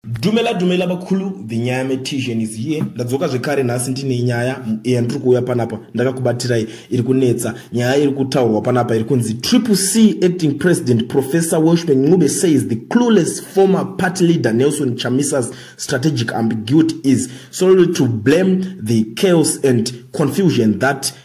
dumela dumela vakulu the nyaya metisian is here ndadzoka zvekare nhasi ndine nyaya yandiri kuuya panapa ndakakubatirai iri kunetsa nyaya iri kutaurwa panapa iri kunzi triple c acting president professor welshman ncube says the clueless former party leader nelson chamisa's strategic ambiguity is solely to blame the chaos and confusion that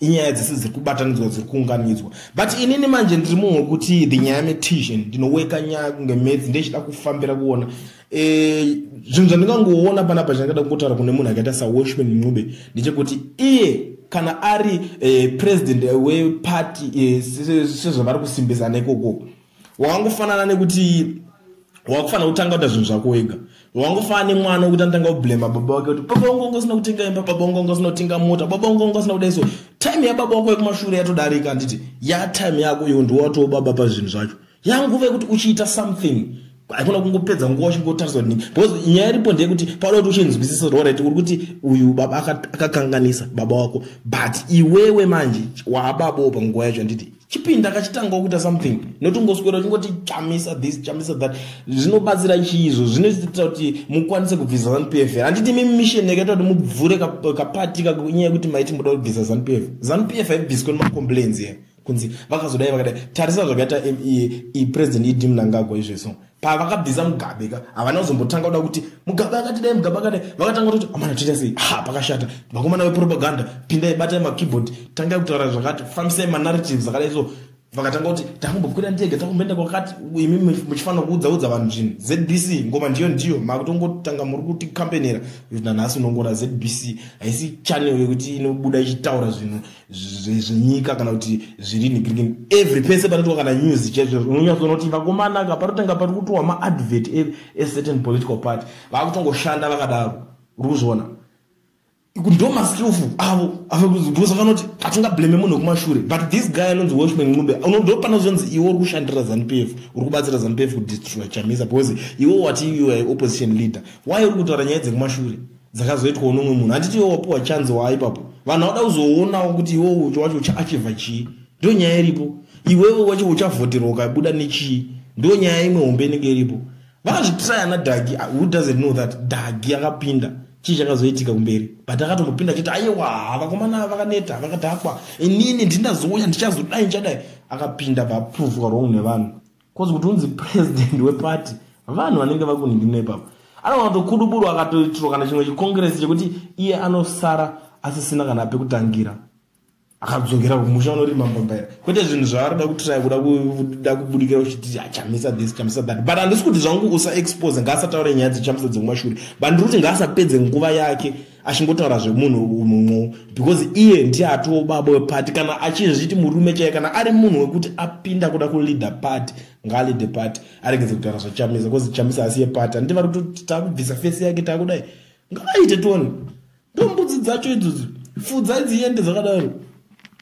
inyaya dzese dziri kubatanidzwa dziri kuunganidzwa but inini manje ndiri munhu wekuti the nyaya metision ndinoweka nyaya kunge metsi ndechida kufambira kuona eh, zvinhu zvandingangoona panapa zvandingada kungotaura kune munhu akaita sawashman ncube ndechekuti iye kana ari eh, president weparty eh, sezvavari kusimbisana ikokoko wangofanana nekuti wakufanira kutanga kuita zvinhu zvako wega wangofanana nemwana wekuti anotanga kublema baba wake kuti baba wangu wanga usina kutenga imba baba wangu wanga usina kutenga mota baba wangu wanga usina kudai so time yababa wako yekumashure yatodarika handiti yatime yako iyo ndiwatowo baba pazvinhu zvacho yanguva yekuti uchiita something haikona kungopedza nguva uchingotariswa kuti because nyaya iripo ndeyekuti panoda kuti uchinzwisisa kuti orit uri kuti uyu baba akakanganisa baba wako but iwewe manje waababawo panguva yacho handiti chipinda kachitanga kuita something not ungoswera uchingoti chamisa this chamisa that zvinobatsira chii izvo zvinoita kuti mukwanise kubvisa zanupf here handiti mimi mission yakaita kuti mubvure kapati kakunyaya yekuti maiti muda kubvisa zanupf zanupf haibviswe nemacomplains here kunzi vakazodai vakadai tarisa zvakaita e, e, e, president idi mnangagwa izveso pavakabvisa mugabe ka havana kuzombotanga kuda kuti mugabe akati dai mugabe akadai vakatanga kutoti amana toita sei ha pakashata vakomana vepropaganda pindai batai makeyboard tangai kutaura zvakati fambisai manarratives akadai so vakatanga kuti takumbokwira ndege takumboenda kwakati imi muchifanira kuudzaudza vanhu zvinhu zbc ngoma ndiyo ndiyo makutongotanga muri kuti kampenera nanhasi unongona zbc haisi chanel yekuti inobuda ichitaura zvinhu zvenyika kana kuti zviri nigirigini every pese panotiwa kana news chezvo unonyatsoona kuti vakomanaka panotanga pari kutowa maadvert ecertain e political party vakutongoshanda vakadaro uri kuzviona ndo maskillful avo because akanoti hatinga blame munhu wekumashure but this guy anonzi washman ncube unondo pana zvonzi iwe uri kushandira zanupf uri kubatsira zanupf kudestroy chamisa because iwe wati iwe opposition leader why uri kutaura nyaya dzekumashure dzakazoitwawo nomwe munhu handiti iwe wapiwa chanzi waa ipapo vanhu vada kuzoonawo kuti iwe ucho wacho uchaachivha chii ndo nyaya iripo iwewe wacho uchavhoterwa ukabuda nechii ndo nyaya imwe hombe inenge iripo vakazvitira yana dagi ah, who doesn't know that dagi akapinda chii chakazoitika kumberi but akatombopinda achiti aiwa vakomana ava vakaneta vakadhakwa inini ndindazoya ndichazodai ndichadai akapinda bva aprovwa wrong nevanhu cause kuti unzi president weparty vanhu vanenge vakuningina ipapo anogona kutokuduburwa akatoitirwa kana chimwe chikongresi chekuti iye anosara asisina kana ape kutangira akadzokera kumusha unorima mbambaira kwete zvinhu zvaarida kutiraya kuda kuda kubudikira uchiti achamisa ah, this chamisa that but handisi kuti zvangu usaexpose ngaasataure nyaya dzechamisa dzemumashure but ndiri kuti ngaasapedze nguva yake achingotaura zvemunhu unhu because iye ndiye atiwo baba wepati kana achizviti murume chaiye kana ari munhu wekuti apinda kuda kuleader party ngaaleader party aregedze kutaura zvachamisa because chamisa asi yepati handiti vari kuti takubvisa fesi yake takudai ngaaite toni ndombudzi dzacho idzodzo fudza dziende dzakadaro